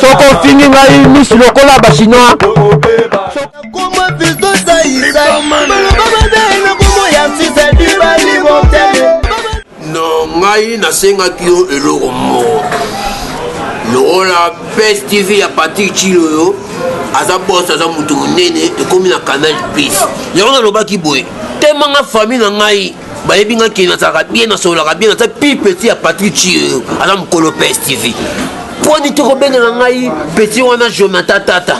soko ofingi ngai misi lokola bachinois no ngai nasengaki yo eloko moko lokola pes tv ya patrik cilo yo aza bos aza moto monene ekomi na canal pis yango nalobaki boye temanga famille na ngai bayebi nga ke nazalaka bien nasololaka bien naza pi petit ya patrik ciyo aza mokolo pes tv poni te kobengana ngai petit wana jonathan tata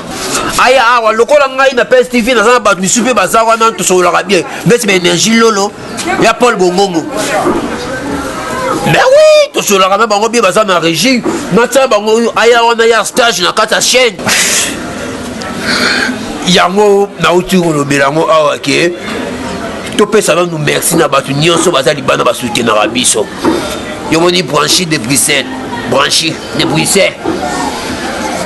aya awa lokola ngai na pes tv naza na bato misusu mpe baza wana tosololaka bien beti ba énergie lolo ya paul bongongo ben oui tosololaka na bango bien baza na régie natya bango aya wana ya stage na kati ya chaîne yango nauti kolobela yango awa ke topesa nanu merci na bato nyonso baza libanda basutenaka biso yomoni branchi de bruxelles branchi de bruxelles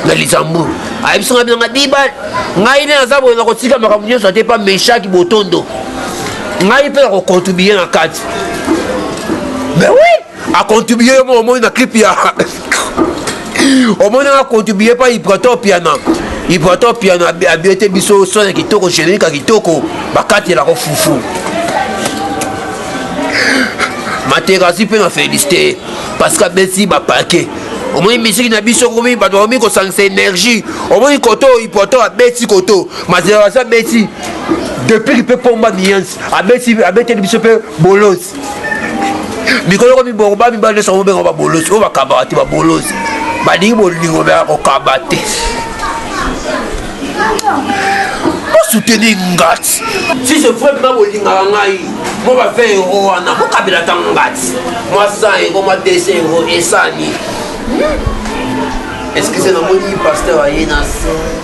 na luxembourg ayebisi ngai bilanga dibal ngai nde naza boye nakotika makambo nyonso ate pa meshaki botondo ngai mpe nakocontribue na kati mais oui a contribuer yo moko omoni na clip ya omoni nga contribuer pa ibrato piana ibrato piana abiete biso son ya kitoko générique ya kitoko bakatelako fufu materasi mpe na félicité parce que abeti bapake omoni misiki na biso komi bato bakomi kosangisa énergie omoni koto oyo ipoto abeti koto materasi abeti depuis mpe pomba miyansi abeteli biso mpe bolos mikolo ekomi bongo ba mibali nyonso babenga babolozi oyo bakabaka te babolozi balingi bolingo baya kokaba te bosuteni ngati si je vrai mpe bolingaka ngai mo ba 20 euro wana bokabela ta ngati mwa 100 euro mwa 200 euro esani eskize namoni pasteur aye na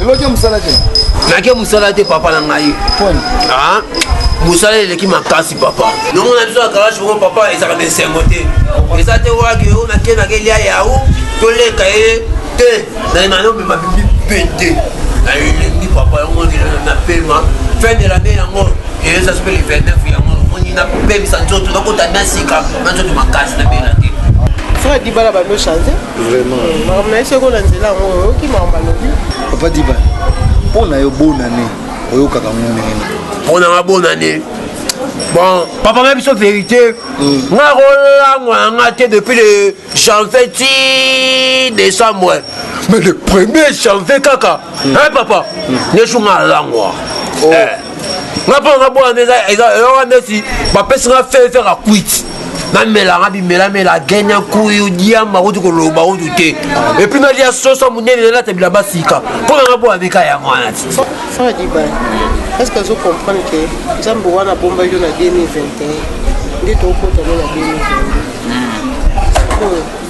eloki mosala te nake mosala te papa na ngai ah, mosala eleki makasi papa nongo na biso ya kalashi bongo papa ezalaka na esengo te eza te waki oyo nake nake lia yao toleka ye te nayema nomema bibi pete nayelengi papa yango na pema fin de lannée yango eyeza sope le 29 yango omoni napemisa nzoto nakota na sika na nzoto makasi na bela te frère dibala bamechange vraiment eh, makambo na ye soki na nzela yango oyoki makambo alobi papa diba mpo na yo bonane oyokaka ngo ndenge nini mpo na nga bonane bon papa nga biso vérité mm. nga kolango na nga te depuis le janvier ti décembre mais le premier janvier kaka mm. hein papa mm. nesu nga alangwa oh. eh. nga mpo nga bwana nde eyoka ndeti bapesi nga fere fere akuiti namelanga bimelamela gene ya nkuyu diamba kutu koloba kutu te epuis nalia soso monene nalata bilamba sika mpo nanga mpo ameka yango wana ti est ce que azo comprendre ke nzambe wana abombaki yo na 2021 nde tokokota no na 2022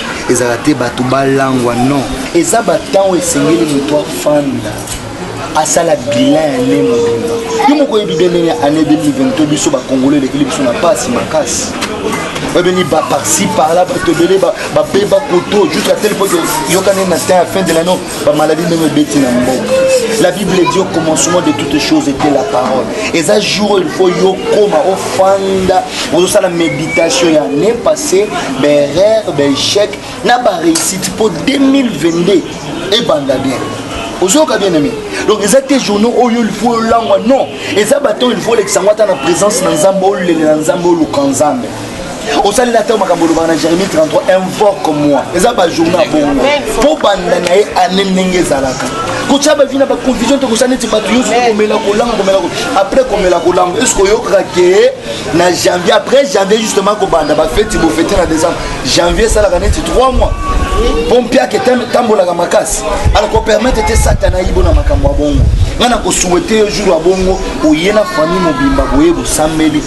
ezala te bato balangwa non eza batango esengeli moto afanda asala bilan ya ne mobimba yo moko oyebi bie ndenge ya année 2022 biso bakongolo elekeli biso na mpasi makasi babeni baparci parla bato ebele babeba koto jusqu'à tel point yokani na temps ya fin de l'année ba maladie ndenge ebeti na mboka la bible dit au commencement de toutes choses était la parole eza jour il faut yo koma ofanda ozosala méditation ya année passé baerreur baéchec na baréussite mpo 2022 ebanda bien ozoyoka bien aimé donc eza te journaux oyo ilfo olangwa non eza baton ilfo olekisa yango ata na présence na nzambe olele na nzambe oluka nzambe osali na ntango makambo olobaka na jérémie 33 invoque moi eza bajournal bongo mpo banda na ye ane ndenge ezalaka kotya bavi na baconfusion te kosala neti bato nyonso komela kolanga komela après komela kolanga eske oyokaka ke na janvier après janvier justement kobanda bafeti bofete na décembre janvier esalaka neti 3 mois mpo mpiaka etambolaka makasi alakopermettre te satana ayibo na makambo ya bongo ngai nakosuete yo jour ya bongo oye na famille mobimba boye bosambeli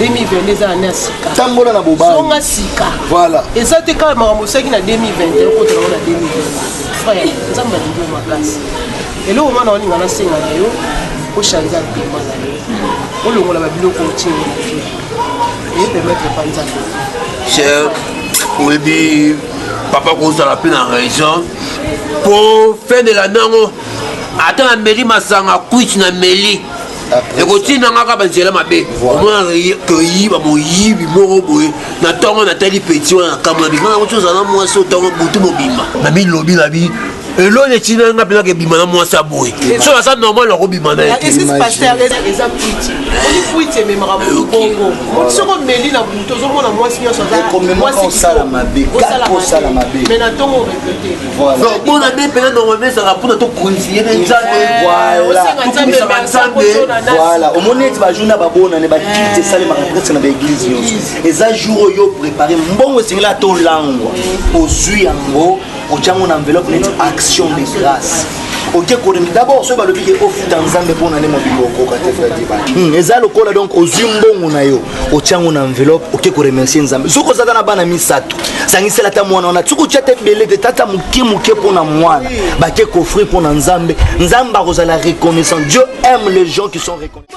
2022 eza année ya sika tambola na bobali zonga sika voilà eza te kaka makambo osalaki na 2021 okota nango na 2020 frère nzambe alingi yo makasi eloko mwana walinga nasenga na yo ochange apema na yo olongola babiloko otie na vie eye permettre pa nzambe cher oyebi papa kozala mpe na raison mpo fin de la nango ata na meli masanga kwiti na meli ekotinda nga kaka banzela mabe omona toyiba moyibi moko boye na ntongo natali peti wana nakamona bima yango tozala na mwasi otango butu mobimba na bilobi na bi eloni etina nga mpena kebima na mwasi ya boye so aza normal akobima na ye donc mpo na nde mpena normalement ezalaka mpona tokontinue na nzambe tokumisaka nzambe voilà omoni ete bajour na babonane bakite esalemaka presque na baeglise nyonso eza jour oyo prépare mbongo esengeli ata olangwa ozwi yango otyango na enveloppe neti action de grâce oke kolemi dabord soki balobi ke ofuta nzambe mpo na nde mobimba okoka te fadibaa eza lokola donc ozwi mbongo na yo otya yango na enveloppe oke koremercie nzambe soki ozaka na bana misato sangisela ata mwana wana soki otya te ebele te tata moke moke mpo na mwana bake koffrir mpo na nzambe nzambe akozala reconnaissant dieu aime les gens qui sont reconnaissants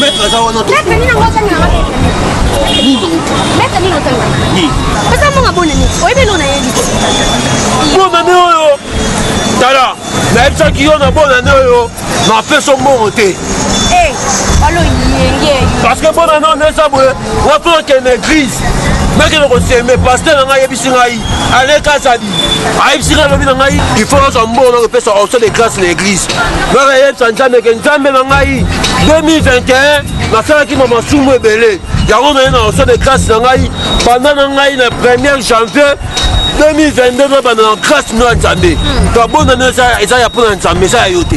Maître aza wana to. Maître nina ngoja nina wapi? Nino. Maître nino tanga. Ni. Pesa monga bona ni. Oyebi lona yebi. Bona ni oyo. Tala. nayebisaki yo na bona ne oyo napesa mbongo te eh, parce que bona ne oyo eza boye wapo okende église nakende koseme paster na ngai ayebisi ngai alekasadi ayebisi ngai lobi na ngai ifo nazwa mbongo na kopesa orso de grâce na église naka yebisa nzambe ke nzambe na ngai 2021 nasalaki ma masumu ebele yango naye na orso de grâce na ngai banda na ngai na 1er janvier 2022 na banda na grâce mino ya nzambe tobonda nio eza ya mpo na nzambe eza ya yo te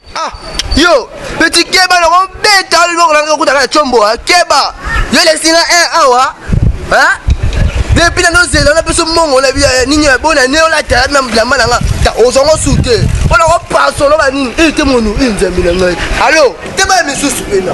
Ah, yo, petit keba na ko beta le boko na ko kutaka chombo, ah, keba. Yo le singa un eh, awa. Ah, hein? Depuis na nozela na biso mongo na biya eh, nini ya bona ne ola tala na mblamba na nga. Ta ozongo sute. Ona ko pasolo ba nini? Eh, te monu, eh, nzambi na ngai. Allo, te ba misusu pena.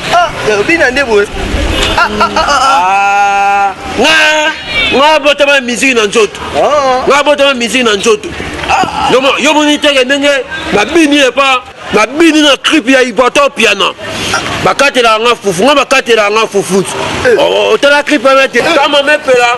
Ah, bina nde boye. Ah, ah, ah, ah. ah. Nga, nga botama musique na nzoto. Ah. Nga botama musique na nzoto. Ah. Yo moni teke ndenge babini epa babini na crip ya iboto piano bakatelaka nga fufu nga bakatelaka nga fufu eh. oh, oh, otala crip wana te kama mepela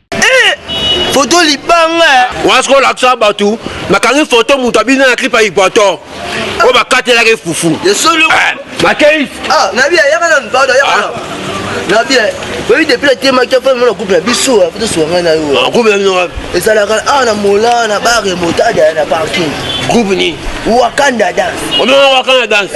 Eh, foto libanga eh. wana sikoyo olakisa bato nakangi foto moto abina na clip ya equator oyo bakatelaki fufu makei nabi ayaka na mpado ayaka na nabi oyebi depuis natemaki afai mona couple ya biso apo tosuka ngai na yo couple ya bino wapi ezalaka awa na mola na bare motadaya na parking groupe nini wakanda dance omema wakanda dance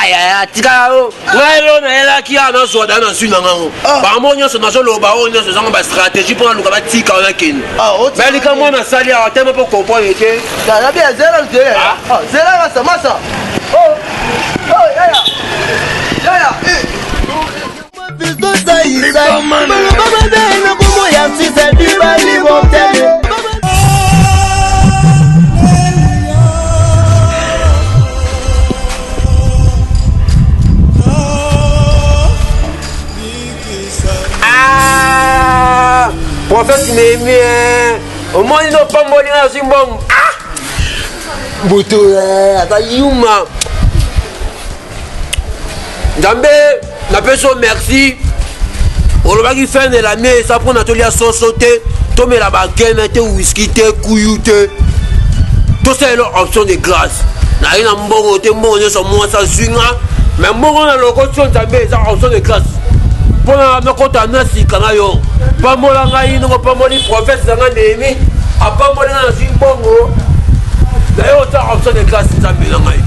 ayaya tika yo ngai lelo nayelaki awa nazwa dana nazwi na ngango ah. bango nyonso nazoloba oyo nyonso ezango bastratégie mpo naluka batika wana kende ah, me likambo oyo nasali awa te mpo comprendre te nabi ya zela te ah. zela masa masa oh. Oh, yaya yaya eh. Ah, prophète Néhémie, omoni no pamboli na zwi mbongo. Ah! Moto eh, aza yuma. Nzambe napesi yo merci olobaki fin de la mie eza mpona tolia soso te tomela bakena te wiski te kuyu te tosalela option de grâce naye na mbongo te mbongo nyonso mwasi azwi nga me mbongo na lokoti yo nzambe eza option de grâce mpo na nakota na sika na yo pambola ngai ndenge opamboli profese na ngai nehemi apamboli ngai nazwi mbongo naye ota option de grâce nzambe na ngai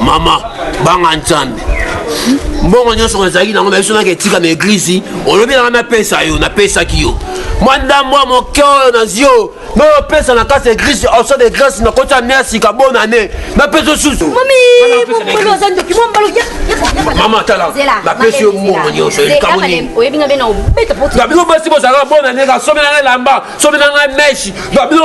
mama banga nzambe mbongo nyonso nazalaki nango biso naka etika na eglize olobi nanga napesa yo napesaki yo mwa ndambo ya moke oyo nazwi oyo nayopesa na kati eglise oso de grâce nakoti ane ya sika bona ne napesa osusu mama tala napesi yo mbongo nyonso likambo nini babino basi bozalaka bona ne kasomela ngai lamba somela ngai meshi babino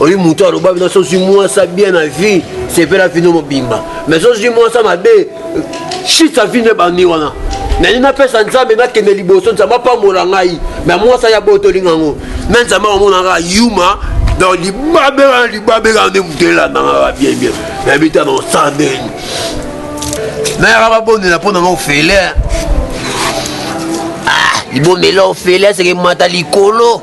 oyi moto aloba bino sozwi mwasa bien na vie sepela vino mobimba mais sozwi mwasa mabe shisa vino ebandi wana nani napesa nzambe nakende liboso nzambe apambola ngai me mwasa ya botolinga yango me nzambe amonaka yuma donc libabe wana libabe kaka nde moto elandangaka bien bien nayebi ta na osandeni nayaka babondela mpo nanga ofele ah, libondela ofele aseke mata likolo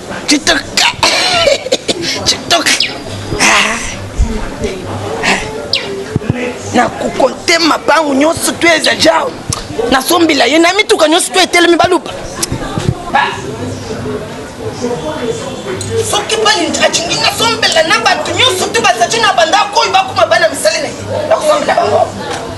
Chitok. Chitok. Ah. Na kukonte mapangu nyonso tu eza jao. Na sombila ye na mituka nyonso tu etelemi baluba. Ba. soki balingi alingi nasombela na bato nyonso te bazali na bandako oyo bakoma bana misali na ye nakosombela bango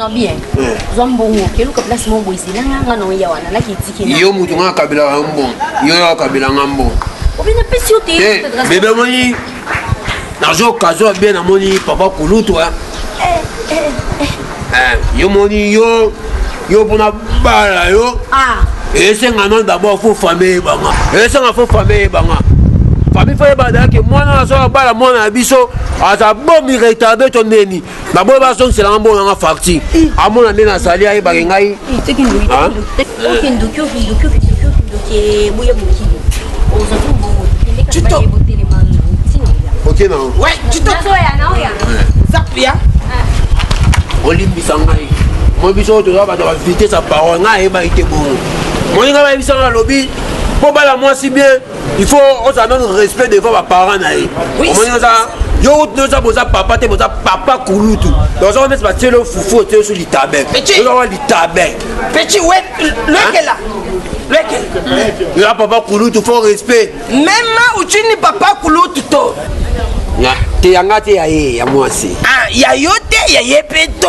non bien eh. zwa mbongo keluka place moko boye zelanga nga nao ya wana laki etiki yo motu nga kabelaka yo mbongo yo ya kabelanga mbongo obina pesi yo te eh, bebe omoni nazo kazo ya bien namoni papa kulutu hein. Eh, yo moni yo yo mpona bala yo ah. esenga non d'abord fo famille eyebanga esenga fo famille eyebanga famille fo eyebadaki mwana azo abala mwana ya biso aza bomi retarde to neni baboye bazongisela nga mbongo na nga facture amona nde nazali ayebake ngai olimbisa ngai moi biso oyo toza bato ya bavitese ya parole ngai ayebaki te bongo moninga bayebisanga alobi mpo bala mwasi bien il faut ozala nanu respect devant baparent na ye omoni oza yo kutu oza boza papa te boza papa kulutu donc oza neti batieli yo fufu otie yo so litabe oza wa litabe petit we lekela ya papa kulutu fo respect mema uchini papa kulutu to te yanga te ya ye ya mwasi ah, ya yo te ya ye mpe to